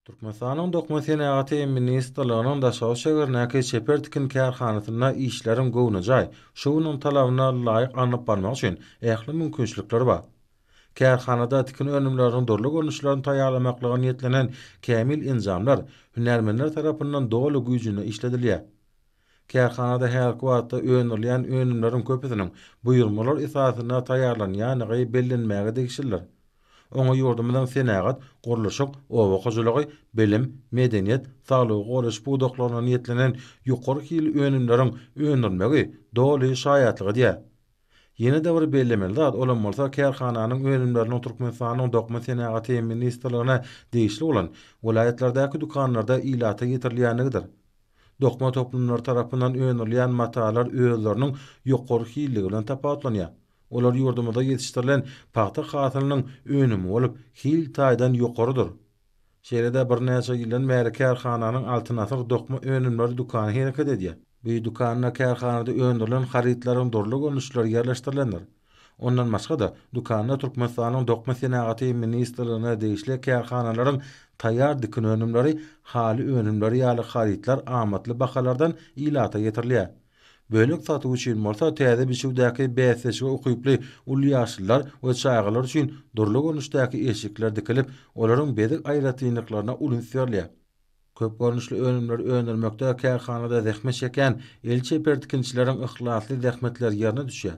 Türkmenistanyň Dokma senagaty ministrliginiň Daşoguz şägerindäki çeper tikin kärhanasynda işleriň göwnejaý, şu günüň talabyna laýyk alnyp barmagy üçin ähli mümkinçilikler bar. Kärhanada tikin önümleriniň dürli görnüşlerini taýýarlamaklyga niýetlenen kämil enjamlar hünärmenler tarapyndan doly güýjünde işledilýär. Kärhanada häzirki wagtda öndürilýän önümleriň köpüsiniň buýurmalar esasynda taýýarlanýandygy bellenmäge degişlidir. Oňa ýurdumyzyň senagat, gurluşyk, oba hojalygy, bilim, medeniýet, saglygy goraýyş pudaklarynda niýetlenen ýokary hilli önümleriň öndürilmegi doly şaýatlyk edýär. Ýene-de bir bellemeli zat, olam bolsa kärhananyň önümleriniň Türkmenistanyň Dokma senagaty ministrligine degişli bolan welaýatlardaky dükanlarda ilata getirilýänligidir. Dokma toplumlary tarapyndan öndürilýän matalar özleriniň ýokary hilligi bilen tapawutlanýar. Olar ýurdumyzda ýetişdirilen pagta hasylynyň önümi bolup, hil taýdan ýokarydyr. Şeýle-de birnäçe ýyldan bäri kärhananyň Altyn asyr dokma önümleri dükany hereket edýär. Bu dükanda kärhanada öndürilen harytlaryň dürli görnüşleri ýerleşdirilendir. Ondan başga-da, dükanda Türkmenistanyň Dokma senagaty ministrligine degişli kärhanalaryň taýýar dikin önümleri, haly önümleri ýaly harytlar amatly bahalardan ilata getirilýär. Bölek satuw üçin bolsa täze biçüwdäki bäsleşige ukyply uly ýaşlylar we çagalar üçin dürli görnüşdäki eşikler dikilip, olaryň bezeg aýratynlyklaryna uly üns berilýär. Köp görnüşli önümleri öndürmekde kärhanada zähmet çekýän el çeper tikinçileriň yhlasly zähmetleri ýerine düşýär.